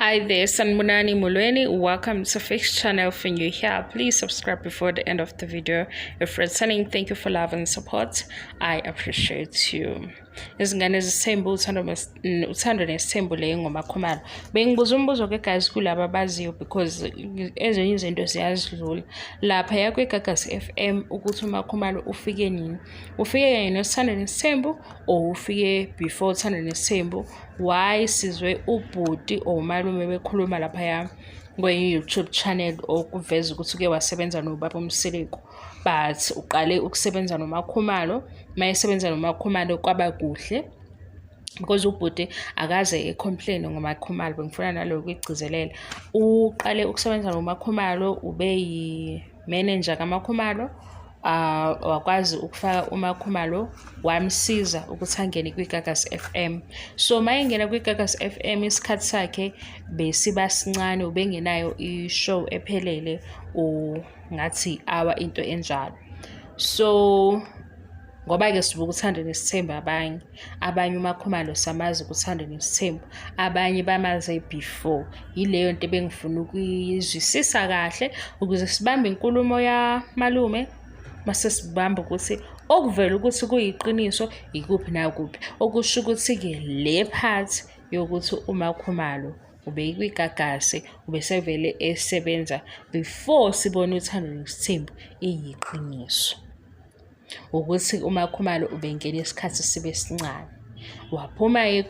Hi there, Sanmunani Mulweni. Welcome to Fixed Channel. If you're here, please subscribe before the end of the video. If returning, thank you for love and support. I appreciate you. izingane zisithembu uthando nesithembu le ngoma khumalo bengibuza umbuzo ke guys kulaba baziyo because ezinye izinto ziyazidlula lapha yakwe Gagas FM ukuthi umakhumalo ufike nini ufike kanye nesithando nesithembu or ufike before uthando nesithembu why sizwe ubhuti or umalume bekhuluma laphaya kweyi-youtube channel okuveza ukuthi uke wasebenza nobaba umsiliku but uqale ukusebenza nomakhumalo uma esebenza nomakhumalo kwaba kuhle because ubhuti akaze ecomplaine ngomakhumalo bengifuna naloyo kuyigcizelela uqale ukusebenza ngomakhumalo ube Manager kaMakhumalo uh, wakwazi ukufaka uMakhumalo wamsiza ukuthi angene kwiGagas FM so mayengena kwiGagas FM isikhathi sakhe besiba sincane ubengenayo i-show ephelele ngathi awa into enjalo so ngoba-ke sibuka uthando nesithemba abanye abanye umakhumalo samazi ukuthanda nesithembu abanye bamaze before yileyo nto ebengifuna ukuyizwisisa kahle ukuze sibambe inkulumo yamalume mase sibamba ukuthi okuvela ukuthi kuyiqiniso yikuphi nakuphi okusho ukuthi-ke le phathi yokuthi umakhumalo ubeyikwigagasi ubesevele esebenza before sibone uthando nesithembu iyiqiniso ukuthi umakhumalo ubengena isikhathi sibe sincane waphuma-ke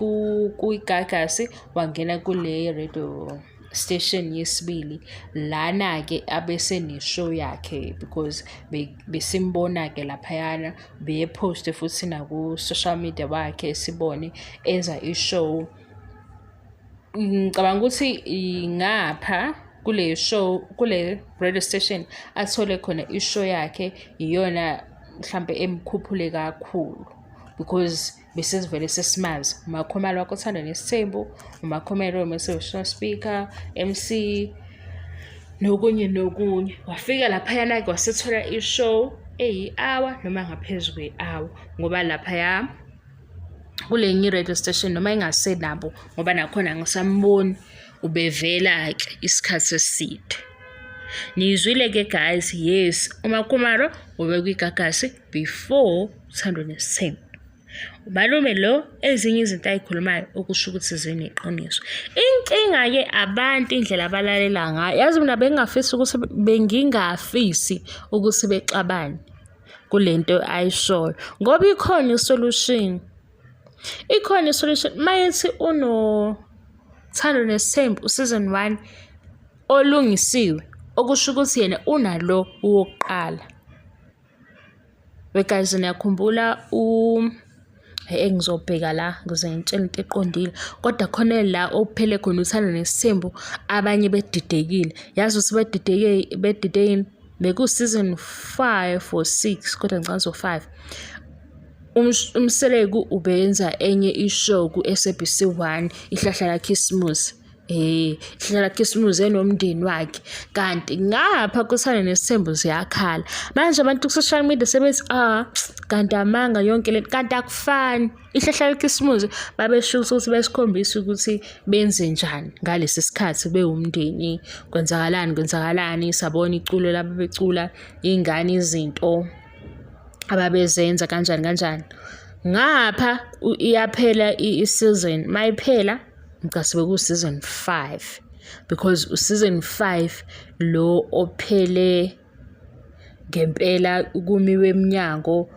kwigagasi wangena kule radio station yesibili lana-ke abeseneshow yakhe because besimbona-ke laphayana beyephoste futhi naku-social media wakhe sibone enza ishow ngicabanga ukuthi ngapha kule show kule radio station athole khona ishow yakhe iyona mhlampe emkhuphule kakhulu because besizivele sesimazi umakhomalo wakho othanda nesithembu umakhomelo we-motivational speaker mc nokunye nokunye wafika laphayana ke wasethola ishow eyi-hour noma ngaphezu kwe-hour ngoba laphaya kule nye radio station noma engasenabo ngoba nakhona ngisamboni ubevela ke isikhathi eside niyizwile ke guys yes umakumaro ubekuyigagasi before 107 umalume lo ezinye izinto ayikhulumayo okusho ukuthi zini iqiniso inkinga-ke abantu indlela abalalela ngayo yazi mina bengingafisi ukuthi bengingafisi ukuthi bexabane kule nto ayishoyo ngoba ikhona isolution ikhona isolution uma yethi unothando nesithembu useason one olungisiwe okusho ukuthi yena unalo wokuqala wegazini yakhumbula u engizobheka la ngize ngitshele into eqondile kodwa khona la okuphele khona uthanda nesithembu abanye bedidekile yazi ukuthi bedideke bedidekile bekuseason five or six kodwa ngicabanga so five umseleku ubenza enye ishow ku-sabc one ihlahla lakhisimusi Eh, hlala khisimuze nomndeni wakhe. Kanti ngapha kusana nesithembu ziyakhala. Manje abantu ku social media sebethi ah kanti amanga yonke lento kanti akufani. Ihlahla khisimuze babesho ukuthi besikhombisa ukuthi benze njani ngalesi sikhathi bewumndeni. Kwenzakalani kwenzakalani sabona iculo laba becula ingane izinto ababezenza kanjani kanjani. Ngapha iyaphela i-season mayiphela ngicase bekuwu-season five because u-season five lo ophele ngempela kumiwe emnyango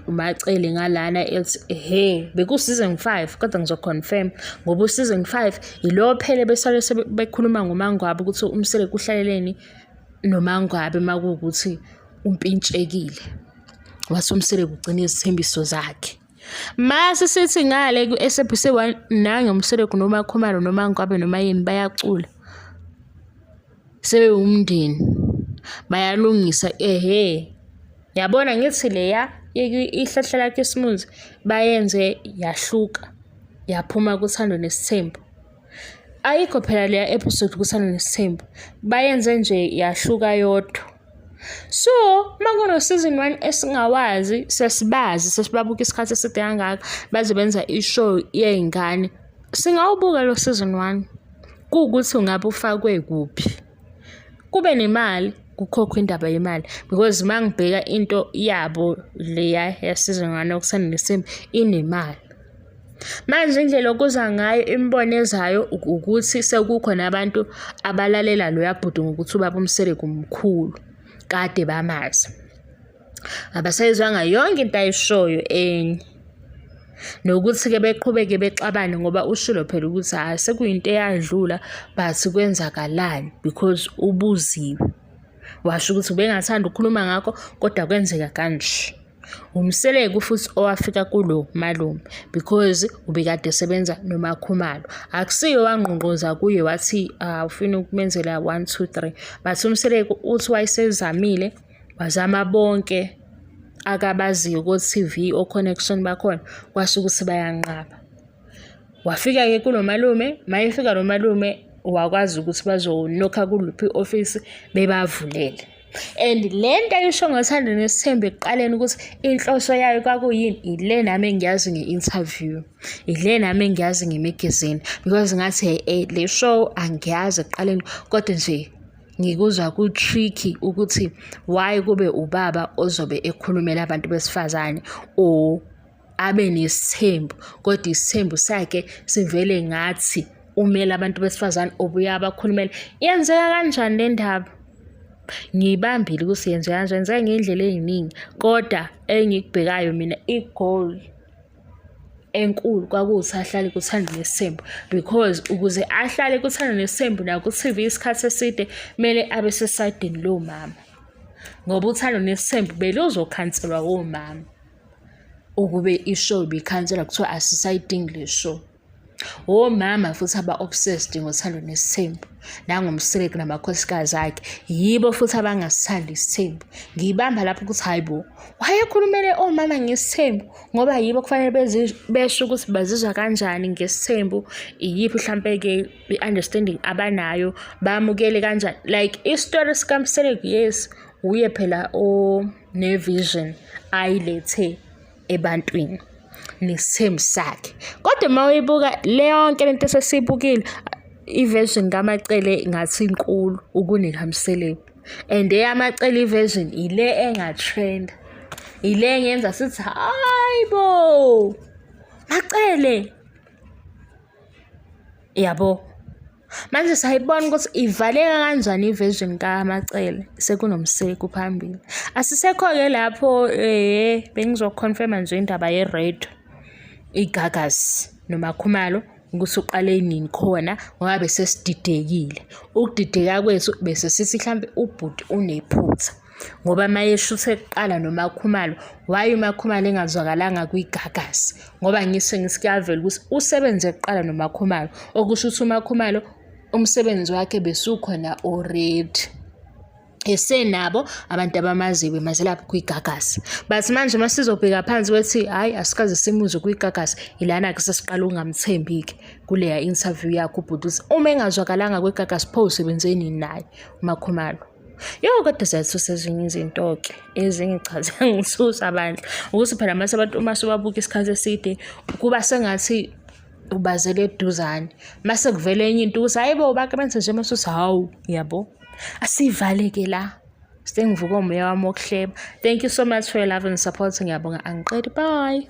umacele ngalana ethi he bekuseason 5 kodwa ngizoconfirm ngoba useason 5 yilo phele besale bekhuluma ngomangwabe ukuthi umsele kuhlaleleni nomangwabe makuwukuthi umpintshekile wase umsele kugcina izithembiso zakhe Mase sithi ngale ku-SABC 1 nange Mseleku noma Khumalo noma Ngwabe noma yini bayacula sebewumndeni bayalungisa ehe yabona ngithi leya ihlahla lakhe isimunzi bayenze yahluka yaphuma kuthando nesithembu. Ayikho phela leya episode kusana nesithembu. Bayenze nje yahluka yodwa. So, uma kuno season 1 esingawazi sesibazi sesibabuka isikhathi eside kangaka baze benza ishow yey'ngane. Singawubuka lo season 1 kuwukuthi ungabe ufakwe kuphi. kube nemali kukhokhwa indaba yemali because uma ngibheka into yabo leya yasizongane okusana nesimo inemali manje indlela okuza ngayo imibono ezayo ukuthi sekukhona abantu abalalela loya bhuti ngokuthi ubaba umsele kumkhulu kade bamazi abasayizwanga yonke into ayishoyo enye nokuthi-ke beqhubeke bexabane ngoba ushilo phela ukuthi hhayi sekuyinto eyadlula but kwenzakalani because ubuziwe washo ukuthi ubengathanda ukukhuluma ngakho kodwa kwenzeka kanje umseleko futhi owafika kulo malume because ubekade esebenza nomakhumalo akusiyo wangqongqoza kuye wathi awufuni ah, ukumenzela one two three but umseleko uthi wayesezamile Bazama bonke akabaziyo ko-TV o-connection bakhona kwasho ukuthi bayanqaba. Wafika-ke kulo malume, mayefika lo malume wakwazi ukuthi bazonokha kuluphi i-ofisi bebavulele. And le nto ayisho ngothando nesithembu ekuqaleni ukuthi inhloso yayo kwakuyini ile nami engiyazi nge-interview ile nami engiyazi ngemagazini because ngathi le show angiyazi ekuqaleni kodwa nje ngikuzwa ku-tricky ukuthi why kube ubaba ozobe ekhulumela abantu besifazane or abe nesithembu kodwa isithembu sakhe sivele ngathi umele abantu besifazane obuya abakhulumela yenzeka kanjani le ndaba ngiyibambile ukuthi yenzeka kanjani yenzeka ngey'ndlela ey'ningi kodwa engikubhekayo mina i-goal enkulu kwakuwuthi ahlale kuthanda nesembu because ukuze ahlale kuthanda nesembu naku-tv isikhathi eside kumele abe sesayidini lowo mama ngoba uthando nesembu beluzokhanselwa womama ukube ishow ibikhanselwa kuthiwa asisayidingi le show womama futhi aba-obsessed ngothando nesithembu nangomsireki namakhosikazi akhe yibo futhi abangasithandi isithembu ngiyibamba lapho ukuthi hhayi bo wayekhulumele omama ngesithembu ngoba yibo kufanele besho ukuthi bazizwa kanjani ngesithembu iyiphi mhlampe-ke i-understanding abanayo bamukele kanjani like isitori sikamsireki yes wuye phela onevision ayilethe ebantwini nesithembu sakhe kodwa uma uyibuka le yonke lento esesiyibukile iversion kamacele ngathi inkulu ukunekaMseleku and eyamacele iversion ile engatrend ile engenza sithi hayi bo macele yabo Manje sayibona ukuthi ivaleka kanjani iversion kaMacele sekunomseku phambili. Asisekho-ke lapho eh bengizoconfirma nje indaba ye-red igagas nomakhumalo ukuthi uqale nini khona ngoba besesididekile. Ukudideka kwethu bese sithi hlampe ubhuti unephutha. ngoba mayeshuthe kuqala noMakhumalo why uMakhumalo engazwakalanga kwiGagasi ngoba ngise ngisikuyavela ukuthi usebenze kuqala noMakhumalo okusho ukuthi uMakhumalo umsebenzi wakhe besukhona already esenabo abantu abamaziyo bemazelapho kwigagasi but manje uma sizobheka phansi kwethi hhayi asikaze simuzwe kwigagasi ilana-ke sesiqala ukungamthembi-ke kuleya interview yakho ubhuti ukuthi uma engazwakalanga kwigagasi pho usebenzeni naye umakhumalo Yo kodwa ziyathusa ezinye izinto-ke ezingichaze ngisusa bandla ukuthi phela mase abantu uma sibabuka isikhathi eside kuba sengathi ubazele eduzane mase kuvela enye into ukuthi hayi bo bake benze nje masusa hawu yabo asivaleke la sengivuka umoya wami wokuhleba thank you so much for your love and support ngiyabonga angiqedi bye